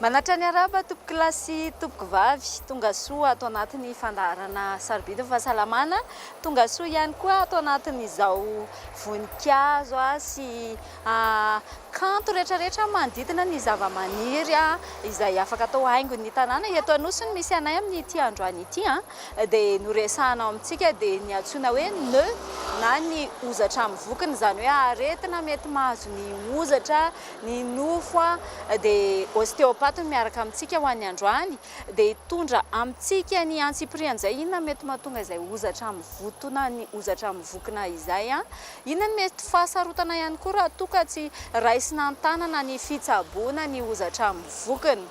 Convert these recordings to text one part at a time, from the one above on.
Manatra ny arahaba tompoko lahy sy tompoko vavy tongasoa ato anatin'ny fandaharana sarobidy ny fahasalamana, tongasoa ihany koa ato anatin'izao voninkazo sy. A, Kanto rehetrarehetra manodidina ny zavamaniry izay afaka atao haingon'ny tanàna eto Anosy no misy anay amin'ity androany ity a! dia noresahana ao amintsika dia ny antsoina hoe nœud na ny hozatra amin'ny vokiny izany hoe aretina mety mahazo ny hozatra, ny nofo a! dia ostéopathe no miaraka amintsika ho an'ny androany dia hitondra amintsika ny antsipirihan'izay inona mety mahatonga izay hozatra mivotona ny hozatra mivokona izay a! Inona no mety ho fahasarotana ihany koa raha toa ka tsy raisina an-tanana ny fitsaboana ny hozatra amin'ny vokiny?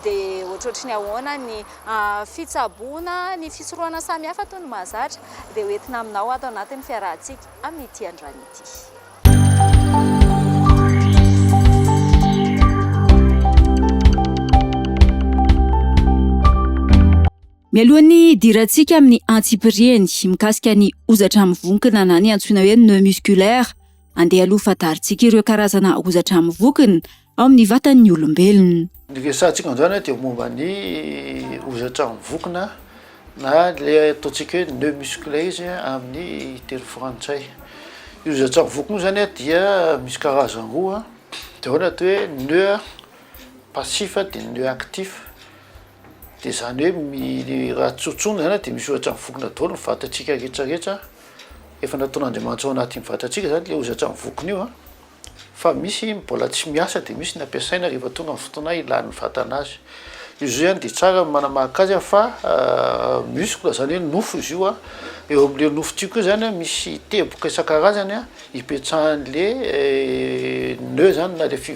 Dia ohatrohatry ny ahoana ny fitsaboana ny fisorohana samihafa toy ny mahazatra? Dia ho entina aminao ato anatin'ny fiarahantsika amin'ity androany ity. Mialohan'ny hidirantsika amin'ny antsipiriany mikasika ny hozatra mivonkona na ny antsoina hoe nœud musculaire, andeha aloha fadarintsika ireo karazana hozatra mivonkona ao amin'ny vatan'ny olombelona. Ny resahantsika amin'izany dia momba ny hozatra mivonkona na ilay ataontsika hoe nœud musculaire izy amin'ny teny frantsay. Io hozatra mivonkona io izany dia misy karazany roa dia ao ny atao hoe nœud passif dia ny nœud actif. Dia izany hoe mi raha tsotsoina izany dia misy ohatra mivokona daholo ny vatantsika rehetra rehetra efa nataon'Andriamanitra ao anatin'ny vatantsika izany ilay hozatra mivokona io a, fa misy mbola tsy miasa dia misy ny ampiasaina rehefa tonga ny fotoana ilan'ny vatana azy. Io zao ihany dia tsara ny manamahaka azy fa muscle izany hoe nofo izy io a, eo amin'ilay nofo tiako io izany a misy teboka isan-karazany a ipetrahan'ilay nœud izany na ilay fi-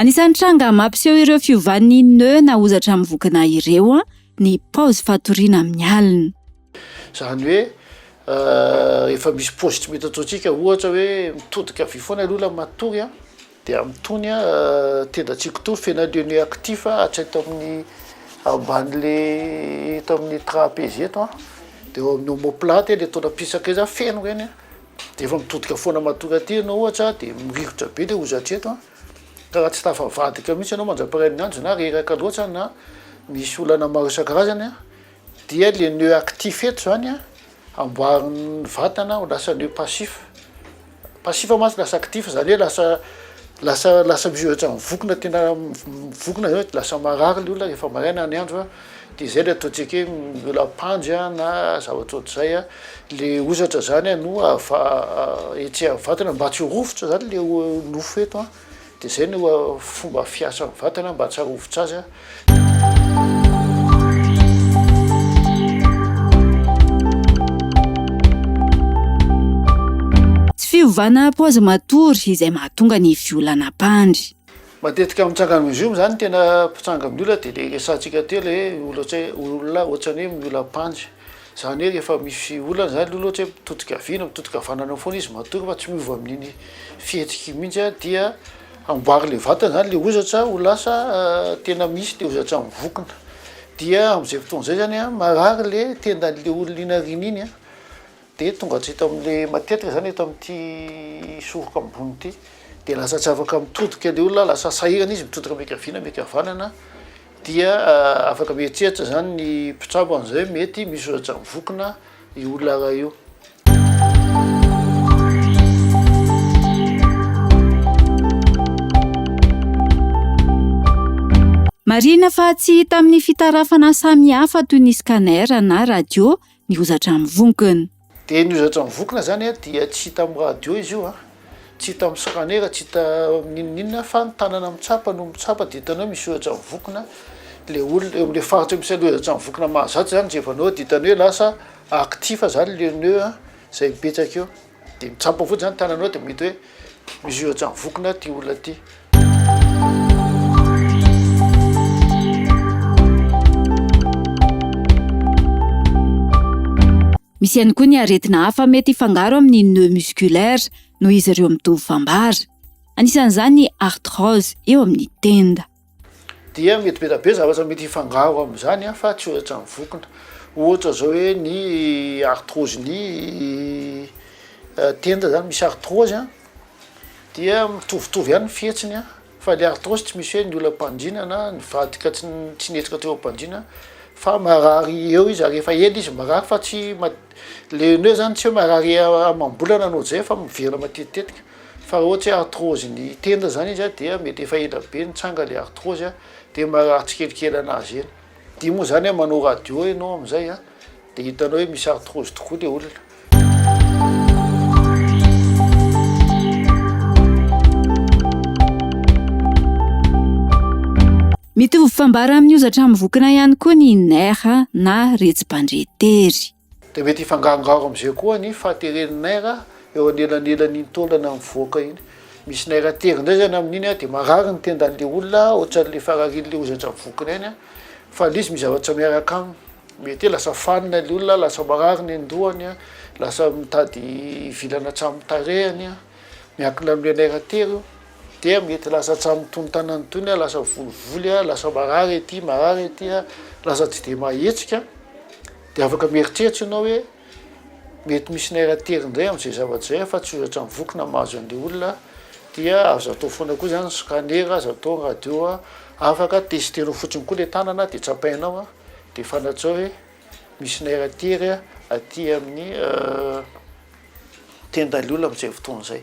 Anisan'ny tranga mampiseho ireo fiovan'ny nœud na hozatra amin'ny vokona ireo ny paozy fatoriana amin'ny alina. Izany hoe efa misy paozy tsy mety ataontsika ohatra hoe mitodika havia foana ny olona matory a! Dia amitony a tendantsiko to fena le nu actif a hatry eto amin'ny ambany le eto amin'ny trapeze eto a de eo amin'ny omoplate e le tonam-pisaka iza feno ireny a de efa mitodika foana matoky aty ianao ohatra a de mirikotra be le hoza hatreto a ka raha tsy tafavadika mihitsy ianao mandra-pirain'ny andro na reraka loatra na misy olana maro isan-karazany a Dia le nœud actif eto zany a amboarin'ny vatana ho lasa nœud passif, passif mantsy lasa actif zany hoe lasa lasa lasa misy ohatra mivokona tena mivokona zany de lasa marary le olona rehefa maraina ny andro a, de zay le ataontsika hoe miola am-pandry a na zavatra ohatr'izay a, le hozatra zany a no ava- etsy am'vatana mba tsy ho rovitra zany le nofo eto a. Dia izay no fomba fiasan'ny vatana mba tsy hahovitra azy. Tsy fiovana paozy matory izay mahatonga ny violan'ampandry. Matetika mitsanga amin'ny zoom izany tena mpitsanga amin'ny olona dia ilay resahantsika teo ilay hoe olona ohatran'ny hoe miola-ampandry. Zany hoe rehefa misy olana zany aloha ohatra hoe mitodika havia na mitodika havanana eo foana izy matory fa tsy miova amin'iny fihetsiky iny mihitsy a dia amboary le vatana zany le hozatra ho lasa tena misy le hozatra mivokona dia am'zay fotoana zay zany a marary le tendan'le olona inariana iny a. Dia tonga hatrety amin'ilay matetika izany eto amin'ity soroka ambony ity. Dia lasa tsy afaka mitodika ilay olona, lasa sahirana izy mitodika miankaviana miankavanana, dia afaka mieritreritra izany ny mpitsabo an'izay hoe mety misy ohatrany vokona io olona iray io. Marihina fa tsy hita amin'ny fitarafana samihafa toy ny scanner na radio ny hozatra amin'ny vonkona. Dia ny hozatra amin'ny vonkona izany dia tsy hita amin'ny radio izy io, tsy hita amin'ny scanner, tsy hita n'inon'inona fa ny tanana mitsapa no mitsapa dia hitanao misy hozatra amin'ny vonkona le olona eo amin'ilay faritra misy an'ilay hozatra amin'ny vonkona mahazatra izany jerevanao dia hitanao hoe lasa actif izany le nœud izay mipetraka eo. Dia ny tsampy mivoty zany tananao dia mety hoe misy ohatran'ny vokona ity olona ity. Misy ihany koa ny aretina hafa mety hifangaro amin'ny nœud musculaire noho izy ireo mitovy fambara. Anisan'izany ny arthrose eo amin'ny tenda. dia mety betabe zavatra mety hifangaro am'zany a fa tsy ohatrany vokona ohatra zao hoe ny artrose ny euh, tenda zany misy artrose a dia mitovitovy ihany ny fihetsiny a fa le artrose tsy misy hoe ny ola mpandrina na nivadika tsy tsy nihetsika teo ampandrina fa marary eo izy ary efa ela izy marary fa tsy ma- le ny hoe zany tsy hoe marary amam-bolana anao zay fa miverina matetitetika Fa raha ohatra hoe arthrose ny tenda zany izy dia mety efa ela be nitsanga le arthrose dia marary tsikelikely anazy eny, dia moa zany hoe manao radio enao amizay a dia hitanao hoe misy arthrose tokoa le olona. Mitovy fambara amin'ny hozatra amin'ny vokona ihany koa ny nerfs na retsi-bandretery. Dia mety hifangangaro amin'izay koa ny fahateren'ny naira eo anelanelan'iny taolana mivoaka iny. Misy naira tery indray izany amin'iny dia marary ny tendan'ilay olona ohatran'ilay fararian'ilay hozatra mivokona iny fa ilay izy mizavatra miaraka aminy. Mety hoe lasa fanina ilay olona, lasa marary ny an-dohany, lasa mitady vilana hatramin'ny tarehiny, miankina amin'ilay naira tery io. Dia mety lasa hatramin'ny tonontanany tony, lasa volovolo, lasa marary ety, marary ety, lasa tsy dia maha hetsika. Dia afaka mieritreritra ianao hoe, mety misy naira tery indray amin'izay zavatra izay aho fa tsy ohatra ny voky na mahazo an'ilay olona dia azo atao foana koa izany ny scanner, azo atao ny radio, afaka tester-nao fotsiny koa ilay tanana dia tsapainao dia fantatrao hoe misy naira tery aty amin'ny tendan'ilay olona amin'izay fotoana izay.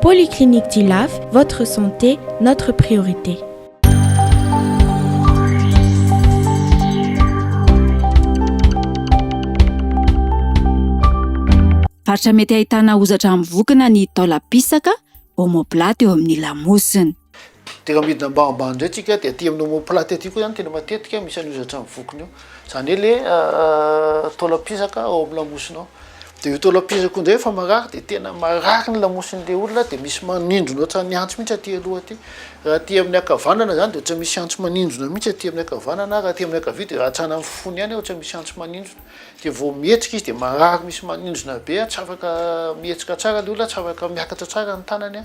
Polyclinique du Laf, votre santé, notre priorité. Faritra mety ahitana hozatra amin'ny vokona ny taolam-pisaka, omoplate, eo amin'ny lamosina. Tena midina ambanimbany indray tsika dia aty amin'ny omoplate aty koa zany tena matetika misy an'io zatran'ny vokona io. Zany hoe le taolam-pisaka ao amin'ny lamosina ao. Dia io taolam-pisaka io indray efa marary dia tena marary ny lamosin'ilay olona dia misy manindrona ohatran'ny antsy mihitsy aty aloha aty. Raha aty amin'ny ankavanana zany dia ohatran'ny misy antsy manindrona mihitsy aty amin'ny ankavanana, raha aty amin'ny ankavia dia hatrany amin'ny fony any ohatran'ny misy antsy manindrona. Dia vao mihetsika izy dia marary misy manindrona be, tsy afaka mihetsika tsara ilay olona, tsy afaka miakatra tsara ny tanany a.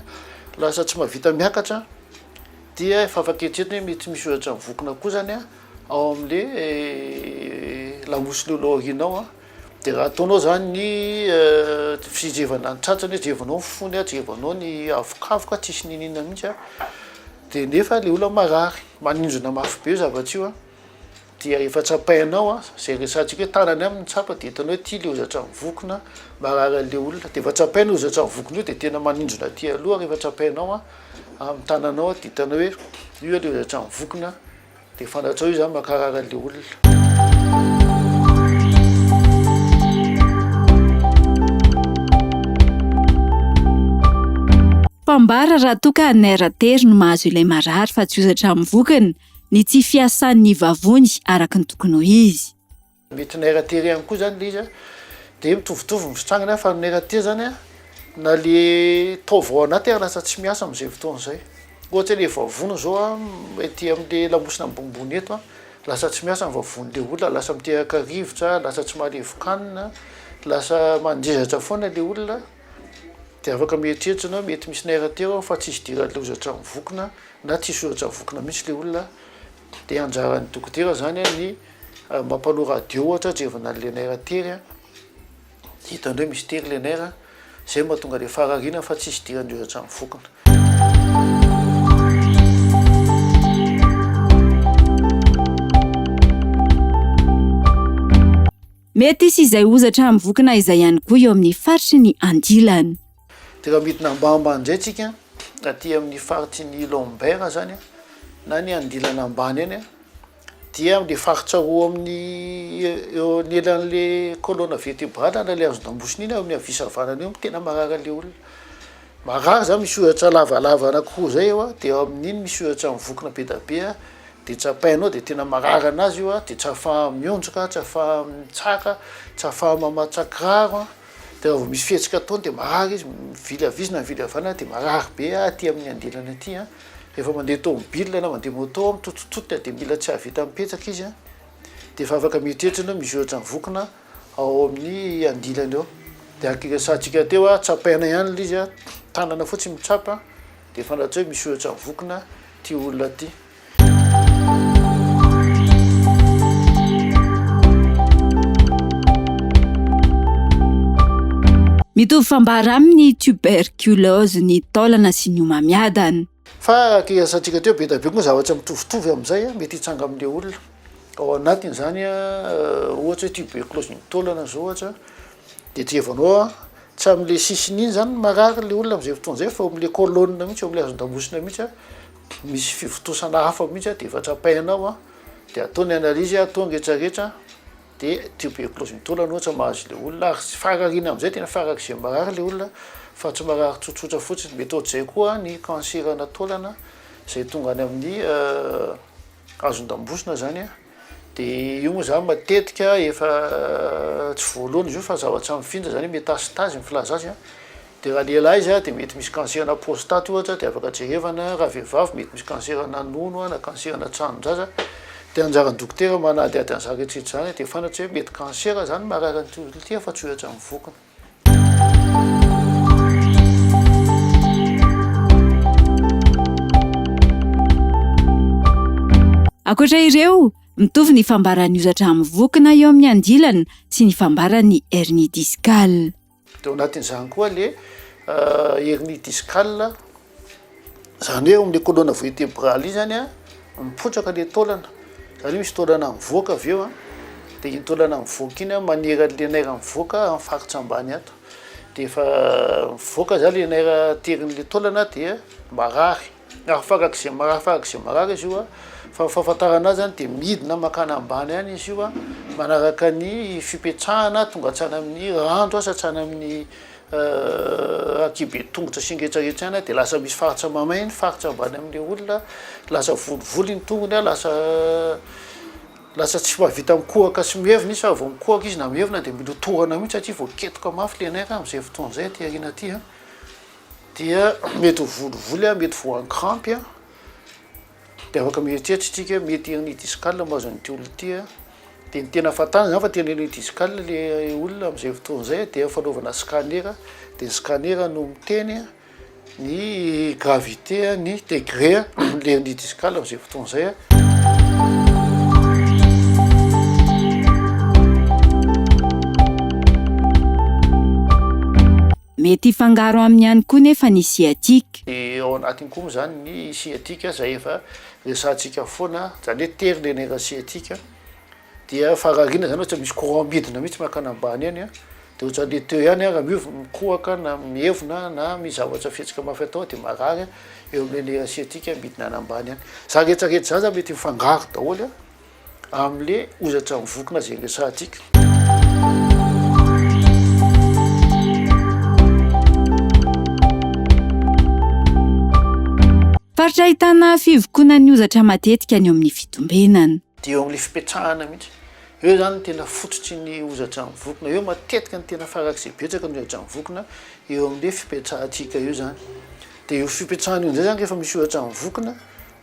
Lasa tsy mahavita miakatra dia efa afaka eritreretina hoe mety misy ohatra mivokona koa zany ao amle lamosinao eo aoriana ao de raha ataonao zany ny fijerevana ny tratrany hoe jerevanao ny fony jerevanao ny avokavoka tsisy n'inona n'inona mihitsy de nefa le olona marary maninjona mafy be io zavatra io a. Dia efa tsapainao an, zay resahantsika hoe tanany aminy tsapa dia hitanao hoe ity le hozatra ny voky na marary anle olona dia efa tsapainao hozatra ny vokin'io dia tena maninjona aty aloha rehefa tsapainao an amin'ny tananao dia hitanao hoe io aloha hozatra ny voky na dia fantatrao io zany makarary anle olona. Mpambara raha toa ka nerf tery no mahazo ilay marary fa tsy hozatra ny vokiny. ny tsy fiasany ny vavony araka ny tokony ho izy. Mety ny RAT irery ihany koa izany ilay izy an, dia mitovitovy ny fitrangany an, fa ny RAT izany an, na ilay taova ao anatiny ary lasa tsy miasa amin'izay fotoana izay. Ohatra hoe ilay vavony izao an, ety amin'ilay lamosina ambonimbony eto an, lasa tsy miasa ny vavon'ilay olona, lasa miteraka rivotra, lasa tsy mahalevokanina, lasa mandrezatra foana ilay olona. Dia afaka mieritreritra na mety misy nairatery aho fa tsisy dira loza hatramin'ny vokona na tsisy soratra vokona mihitsy ilay olona dia anjaran'ny dokotera izany a ny mampanoa radio ohatra atrevina an'ilay nairatery a, hitany hoe misy tery ilay naira izay no mahatonga ilay faharariana fa tsisy dira loza hatramin'ny vokona. Mety hisy izay hozatra amin'ny vokona izay ihany koa eo amin'ny faritry ny andilany. Dia raha midina ambamba indray tsika aty amin'ny faritry ny lombaire zany na ny andilana ambany any dia le faritra roa amin'ny eo anelan'le colonne vertebrale na le hazo damosina iny amin'ny havia sy havanana io no tena marary an'le olona. Mahagaga zany misy ohatra lavalava anakiroa zay eo a de eo amin'iny misy ohatra mivokona be da be a de tsapainao de tena marary anazy io a de tsy afaha mionjoka a tsy afaha mitsaka tsy afaha mamatsà kiraro a de raha vao misy fihetsika ataony de marary izy mivily avia izy na mivily avy any de marary be a aty amin'ny andilany aty a rehefa mandeha tômôbila na mandeha môtô a mitototototra de mila tsy ahavita mipetraka izy a de efa afaka mieritreritra ianao misy ohatra mivokona ao amin'ny andilany ao de araka niresahantsika teo a tsapaina ihany ilay izy a tanana fotsiny mitsapa de fantatsika hoe misy ohatra vokona ity olona ity mitovy fambara amin'ny tuberculose ny taolana sy ny homamiadana fa araka hiresahantsika teo be dia be koa zavatra mitovitovy amin'izay mety hitsanga amin'ilay olona Ao anatin'izany ohatra hoe tuberculose ny taolana zao ohatra de trevanao a tsy am'le sisiny iny zany marary le olona am'zay fotoana zay fa eo am'le colonne mihitsy eo am'le hazon-damosina mihitsy a misy fivontosana hafa mihitsy a de efa trapaina ao a de atao ny analyse atao ny retraretra de tuberculose ny taolana ohatra mahazo le olona ary tsy farariana am'zay tena farak'izay marary le olona fa tsy marary tsotsotra fotsiny mety ohatr'izay koa ny cancer-na taolana zay tonga any amin'ny azon-dambosina zany a, de io moa zany matetika efa tsy voalohany izy io fa zavatra mifindra zany hoe métastase ny filaza azy a, de raha lehilahy izy a de mety misy cancer-na prostate ohatra de afaka jerevana, raha vehivavy mety misy cancer-na nono a na cancer-na tranondraza, de anjaran'ny dokotera manadihady an'zany rehetra rehetra zany de fantatry hoe mety cancer zany marary an'ity olona ity fa tsy ho etra ny vokiny. Ankoatra ireo, mitovy ny fambaran'ny hozatra amin'ny vokona eo amin'ny andilana sy ny fambaran'ny hernie discale. Dia ao anatin'izany koa le hernie discale Izany hoe ao amin'io colonne vertébrale io zany a, mipotraka le taolana, satria misy taolana mivoaka avy eo a, de iny taolana mivoaka iny a maniry an'le nerf mivoaka amin'ny faritra ambany ato, de efa mivoaka zany le nerf aterin'le taolana dia marary, na farak'izay marary farak'izay marary izy io a, fa ny fahafantarana azy zany de midina mankany ambany any izy io a, manaraka ny fipetrahana tonga hatrany amin'ny randro asa hatrany amin'ny aty be tongotra sy ngetsangetsy any de lasa misy faritra mamay ny faritra ambany amle olona lasa volivoly ny tongony a lasa lasa tsy mahavita mikohaka sy mievina izy fa vao mikohaka izy na mievina de milotohana mihitsy satria voaketoka mafy le nerf amzay fotoana zay aty arina aty a dia mety ho volivoly a mety voan-krampy a. Dia afaka mieritreritra isika hoe mety hanao discale mahazo an'ity olona ity an, dia ny tena fantany izany fa te hanao an'io discale ilay olona amin'izay fotoana izay an, dia fanaovana scanner, dia ny scanner no miteny ny gravité ny degré an'ilay hernie discale amin'izay fotoana izay an. Mety hifangaro aminy ihany koa nefa ny sciatique. Dia ao anatiny koa moa izany ny sciatique izay efa resahantsika foana, izany hoe tery ilay nerf sciatique dia farariana izany ohatra misy courant midina mihitsy mankany ambany any a, dia ohatran'ilay teo ihany a, raha miova mikohaka na mievona na misy zavatra fihetsika mafy atao dia marary a, eo amin'ilay nerf sciatique midina any ambany any. Izany rehetra rehetra izany zany mety mifangaro daholo a. amle ozatra mivokona zay resahantsika. Faritra ahitana fivokonan'ny ozatra matetika ny eo amin'ny fitombenana. Dia eo amin'ilay fipetrahana mihitsy. Eo izany no tena fototry ny ozatra mivokona. Eo matetika ny tena farak'izay betsaka ny ozatra mivokona, eo amin'ilay fipetrahantsika io izany. Dia io fipetrahan'io indray izany rehefa misy ozatra mivokona,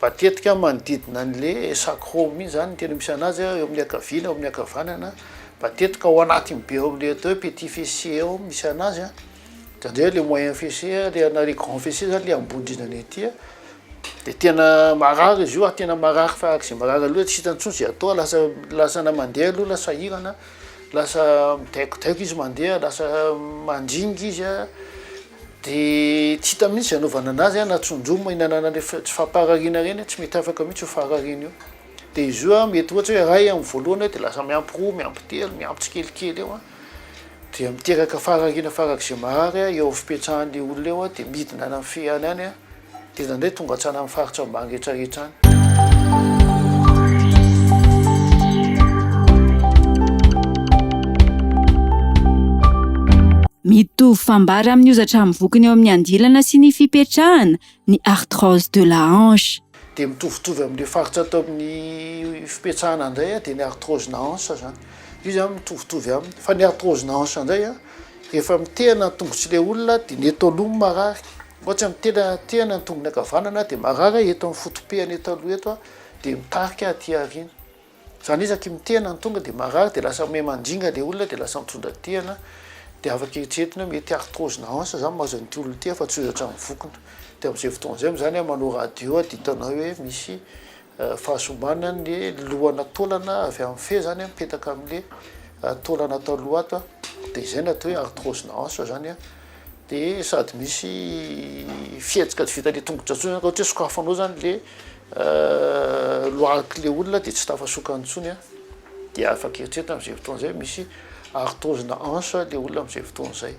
Matetika manodidina an'le Esac Home iny zany ny tena misy anazy eo amin'ny ankaviana eo amin'ny ankavanana matetika ao anatiny be eo amle atao hoe petit fessier eo misy anazy a zany zay le moyen fessier le na le grand fessier zany le ambony indrindrany aty a de tena marary izy io ary tena marary farak' ze marary aloha tsy hitany tsony ze atao lasa lasa na mandeha aloha la sahirana lasa midaikodaiko izy mandeha lasa mandringa izy a. Dia tsy hita mihitsy izay anaovana anazy an, na tsonjo moa hinanana an'ireny fa tsy fampaharariana ireny an, tsy mety afaka mihitsy io faharariana io. Dia izy io an, mety ohatra hoe iray amin'ny voalohany dia lasa miampy roa, miampy telo, miampy tsikelikely eo an, dia miteraka faharariana farak'izay mahary eo amin'ny fipetrahan'ilay olona eo an, dia midina any amin'ny fehany any an. Tena ndray tonga hatrany amin'ny faritra ambany rehetra rehetra any. Mitovy fambara amin'ny hozatra amin'ny vokony eo amin'ny andilana sy ny fipetrahana ny arthrose de la hanche. Dia mitovitovy amin'ilay faritra ato amin'ny fipetrahana indray dia ny arthrose na hanche izany. Io izany mitovitovy aminy. Fa ny arthrose na hanche indray rehefa mitehana ny tongotr'ilay olona dia ny eto aloha no marary. Ohatra ny tena tehana ny tongony ankavanana dia marary eto amin'ny fotopehana eto aloha eto dia mitarika aty aoriana. Zany hoe isaky mitehana ny tonga dia marary dia lasa miha mandringa le olona dia lasa mitondra tehana de afaka eritreretina hoe mety arthrose na hanche zany mahazo an'ity olona ity fa tsy ho eo hatramin'ny vokona. De am'zay fotoana zay moa zany aho manao radio aho de hitanao hoe misy fahasombana ny lohana taolana avy amin'ny fe zany mipetaka amle taolana atao loha ato de izay no atao hoe arthrose na hanche zany a de sady misy fihetsika tsy vitan'ny tongotra tsony zany ka ohatry hoe sokafanao zany le loak'le olona de tsy tafasokany tsony a de afaka eritreretina am'zay fotoana zay misy arthrose na hanche le olona am'zay fotoana zay.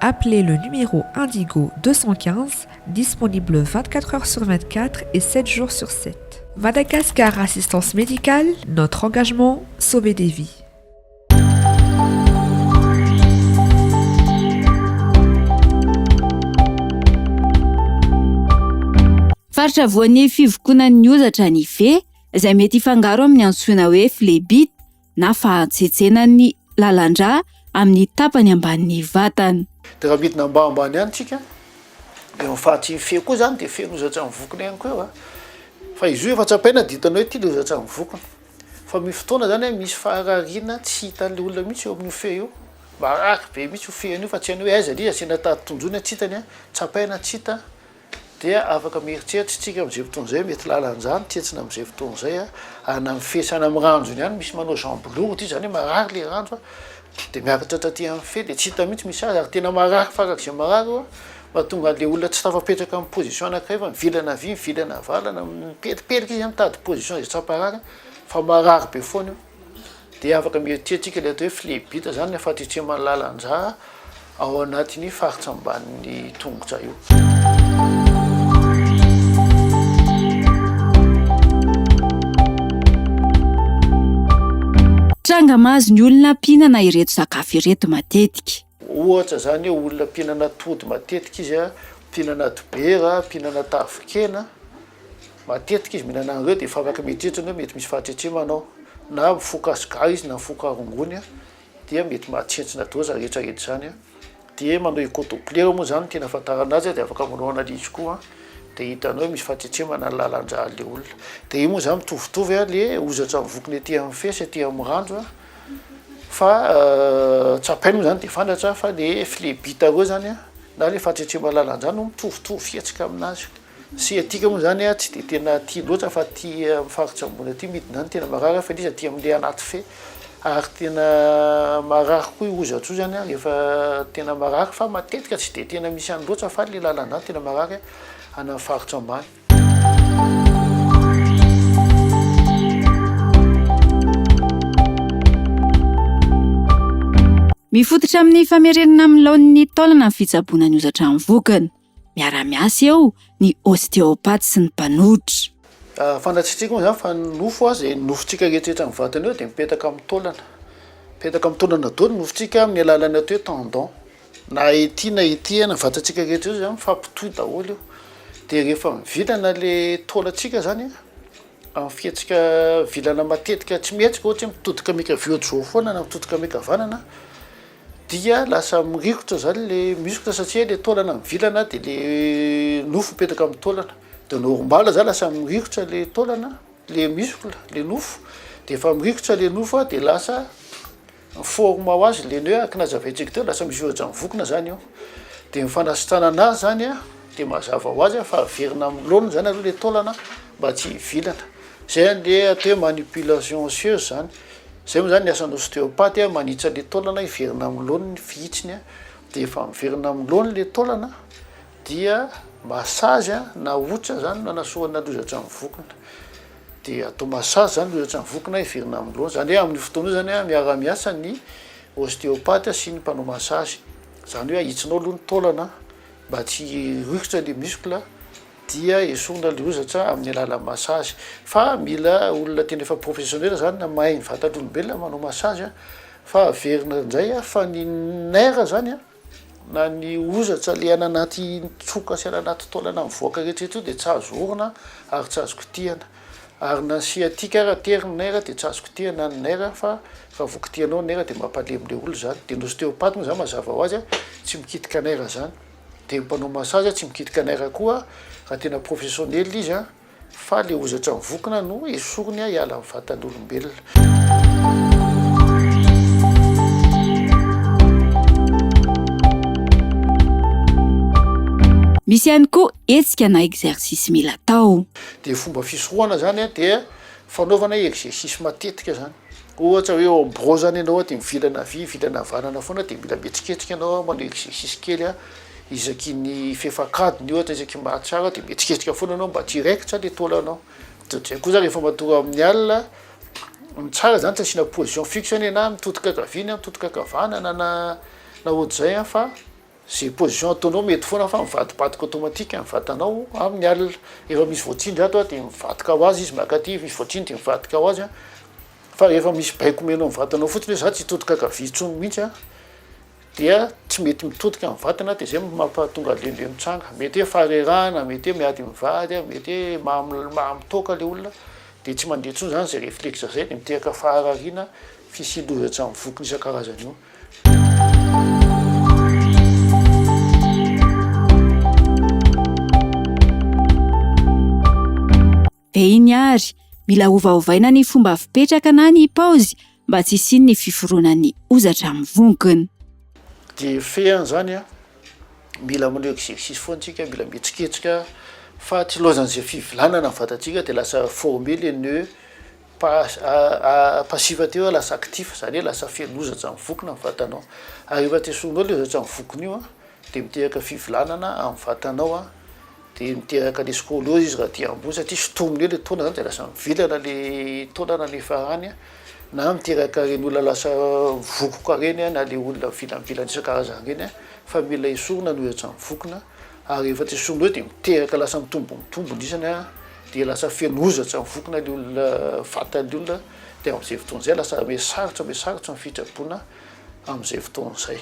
Appelez le numéro Indigo 215, disponible 24 heures sur 24 et 7 jours sur 7. Madagascar Assistance Médicale, notre engagement, sauver des vies. Faritra voan'ny fivokonan'ny ozatra ny fe, izay mety hifangaro amin'ny antsoina hoe flebite. na fahatsetsenan' ny lalan-drà amin' ny tapany ambanin' ny vatana. Dia raha midina mba ambany ihany tsika, eo amin'ny fahatsian'ny feo koa izany dia feno hozatran'ny vokona ihany koa eo a. Fa izy io efa tsapaina dia hitanao ety ilay hozatran'ny vokona. Fa misy fotoana izany hoe misy faharariana tsy hitan'ilay olona mihitsy eo amin'io feo io. Marary be mihitsy io feo an'io fa tsy hainy hoe aiza ilay izy, asiana tady tonjoina tsy hitany a, tsapaina tsy hita. Dia afaka mieritreritra isika amin'izay fotoana izay hoe mety lalan-drano tsentsina amin'izay fotoana izay a, ary na mifehy any amin'ny ranjony ihany, misy manao jambilou ity izany hoe marary ilay ranjo a, dia miakatra taty amin'ny fefy dia tsy hita mihitsy misy azy, ary tena marary farak'izay marary io a, mahatonga an'ilay olona tsy tafapetraka amin'ny position anankiray fa mivilana havia mivilana havalana, mipelipelika izy a, mitady position izay tsy hamparary fa marary be foana io. dia afaka mietientsika ilay atao hoe flebita izany ilay fahatritsema ny lalan-drà ao anatin'ny faritra ambanin'ny tongotra io tranga mahazo ny olona mpihinana ireto sakafo ireto matetika Ohatra izany hoe olona mpihinana atody matetika izy a, mpihinana dibera, mpihinana tavikena, matetika izy mihinana an'ireo dia efa afaka mieritreritra ny hoe mety misy fahatretremana ao, na mifoka sigara izy na mifoka rongony a dia mety mahatsentsina doza rehetra rehetra izany a, dia manao écho doppler moa izany no tena ahafantarana azy a, dia afaka manao analyse koa dia hitanao hoe misy fahatretremana ny lalan-drà an'ilay olona, dia io moa izany mitovitovy a le hozatra mivonkona ety amin'ny fe sy ety amin'ny randra. Fa tsapainy moa izany dia fandratra fa le flebita koa izany an, na le fahatretremalalan-drano mitovitovy fihetsika aminazy. Siatika moa izany an tsy dia tena tia loatra fa tia amin'ny faritra ambony aty midina any tena marary fa ilay izy aty amin'ilay anaty fe ary tena marary koa io ozantsozany an rehefa tena marary fa matetika tsy dia tena misy any loatra fa le lalan-drano tena marary any amin'ny faritra ambany. Mifototra amin'ny famerenana amin'ny laoniny taolana ny fitsaboana ny hozatra amin'ny vokany. Miara-miasa eo ny ostéopathe sy ny mpanohitra. Fantatsika moa izany fa ny nofo aza, izay nofontsika rehetra eto amin'ny vatana eo dia mipetaka amin'ny taolana. Mipetaka amin'ny taolana daholo ny nofontsika amin'ny alalan'ny atao hoe tendon. Na ety na ety any vatantsika rehetra io zany mifampitohy daholo io de rehefa mivilana le taolantsika zany amin'ny fihetsika vilana matetika tsy mihetsika ohatra hoe mitodika miankavia ohatr'izao foana na mitodika miankavanana dia lasa mirikotra zany le muscle satria le taolana mivilana de le nofo mipetraka amin'ny taolana de normal zany lasa mirikotra le taolana le muscle le nofo de efa mirikotra le nofo a de lasa ny forme ho azy le ny hoe arc na java ejecteur lasa misy ohatra mivokona zany io de ny fanasitranana azy zany a de mazava ho azy a fa averina amin'ny laoniny zany aloha le taolana mba tsy hivilana zay any le atao hoe manipulation osseuse zany zay moa zany ny asan'ny ostéopathe a manitsy an'le taolana hiverina amin'ny laoniny fihitsiny a de efa miverina amin'ny laoniny le taolana dia massage a na ohatra zany no anasoana lozatra mivokona dia toa massage zany no ohatrany voky na heverina amin'ny loha zany hoe amin'io fotoana io zany a miara miasa ny osteopathe sy ny mpanao massage zany hoe ahitsonao aloha ny taolana mba tsy hirohitra le muscle dia esorina le hozatra amin'ny alalan'ny massage fa mila olona tena efa professionnel zany na mahay ny vatan'olombelona manao massage fa averina ndray a fa ny nerf zany a. Na ny ozatra le any anaty tsoka sy any anaty taolana mivoaka rehetra eto io dia tsy azo orina ary tsy azo kitihana. Ary na ny sciatique ary atery ny nerf dia tsy azo kitihana ny nerf fa raha vao kitihanao ny nerf dia mampalemy le olona izany. Dia ny ostéopathe moa izany mazava ho azy tsy mikitika nerf izany. Dia ny mpanao massage tsy mikitika nerf koa raha tena professionnel izy. Fa le hozatra mivokona no esoriny hiala amin'ny vatan'olombelona. Misy ihany koa hetsika na exercice mila atao. Dia fomba fisorohana izany dia fanaovana exercice matetika izany. Ohatra hoe ao amboa zany ianao de mivilana havia hivilana havanana foana de mila mihetsiketsika ianao manao exercice kely a isaky ny fefankadiny ohatra isaky ny mahatsiaro de mihetsiketsika foana ianao mba tsy hiraikitra le taolanao de otr'zay koa zany rehefa matoa amin'ny alina ny tsara zany tsy asiana position fixe anie na mitodika ankavia na mitodika ankavanana na na ohatr'zay a fa Ze position ataonao mety foana fa mivadibadika automatique ny vatanao amin ny alina, rehefa misy voatsindry ato dia mivadika ho azy izy mankaty, misy voatsindry dia mivadika ho azy an, fa rehefa misy baiko omenao ny vatanao fotsiny hoe za tsy hitodika ankavia intsony mihitsy an dia tsy mety mitodika ny vatana dia zay no mampahatonga lele mitsanga, mety hoe faharerahana, mety hoe miady mivady an, mety hoe maha maha mitoaka le olona dia tsy mandeha intsony zany zay reflexe zay dia miteraka faharariana Fisian'ny loza tsy amin'ny vokiny isan-karazany io. Dia iny àry, mila ovaovaina ny fomba fipetraka na ny paozy mba tsy hisian'ny fiforonan'ny hozatra amin'ny vongony. Dia fehiny izany an, mila manao exercice foana isika, mila mihetsiketsika fa tsy ilaozan'izay fivilanana ny vatantsika dia lasa former les nœuds. Pas, a, a, passive teo hoe lasa actif, zany hoe lasa feno ozatra mivokona ny vatanao. Ary rehefa te sorognao le ozatra mivokona io an, de miteraka fivilanana amin'ny vatanao an, de miteraka le scoliose izy raha aty ambony satria sotominy eo le taolana zany de lasa mivilana le taolana nefa any an, na miteraka reny olona lasa vokoka reny an, na le olona vilavilan isan-karazany reny an, fa mila esorina ny ozatra mivokona. ary rehefa tsy soa indray dia miteraka lasa mitombo mitombo ny isany a, dia lasa feno ozatra ny fokona ilay olona, vatan'ilay olona, dia amin'izay fotoana izay lasa be sarotra be sarotra ny fitraboana amin'izay fotoana izay.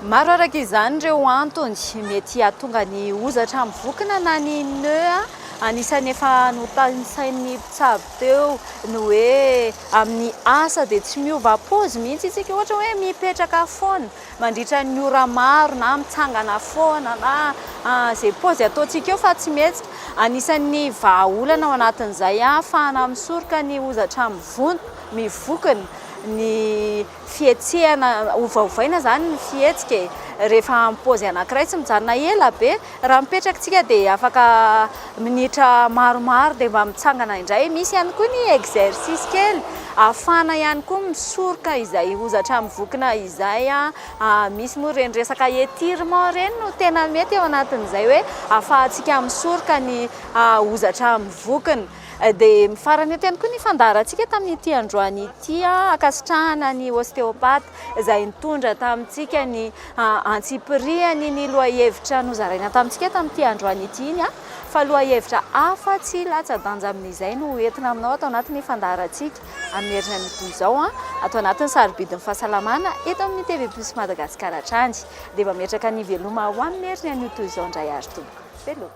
Maro araka izany ireo antony mety hahatonga ny hozatra amin'ny vokona na ny nœuds. Anisan'ny efa notanisain'ny mpitsabo teo ny hoe amin'ny asa dia tsy miova paozy mihitsy isika, ohatra hoe mipetraka foana mandritra ny ora maro na mitsangana foana na izay paozy ataontsika eo fa tsy mihetsika. Anisan'ny vahaolana ao anatin'izay hahafahana misoroka ny hozatra mivonto- mivokona ny fihetsehana ovaovaina izany ny fihetsika e! rehefa amin'ny paozy anankiray tsy mijanona ela be, raha mipetraka tsika dia afaka minitra maromaro dia mba mitsangana indray, misy ihany koa ny exercice kely afahana ihany koa misoroka izay hozatra mivokona izay an! misy moa ireny resaka etirement ireny no tena mety ao anatin'izay hoe afahantsika misoroka ny hozatra mivokona. Dia mifarana eto ihany koa ny fandaharantsika tamin'ity androany ity ankasitrahana ny ostéopathe izay nitondra tamintsika ny antsipirihany ny lohahevitra nozaraina tamintsika tamin'ity androany ity iny fa lohahevitra hafa tsy latsa-danja amin'izay no hoentina aminao ato anatin'ny fandaharantsika amin'ny herinan'ny toy izao ato anatin'ny sarobidin'ny fahasalamana eto amin'ny TV Plus Madagascar hatrany dia mametraka ny veloma ho amin'ny heriny anio toy izao indray ary tompoko veloma.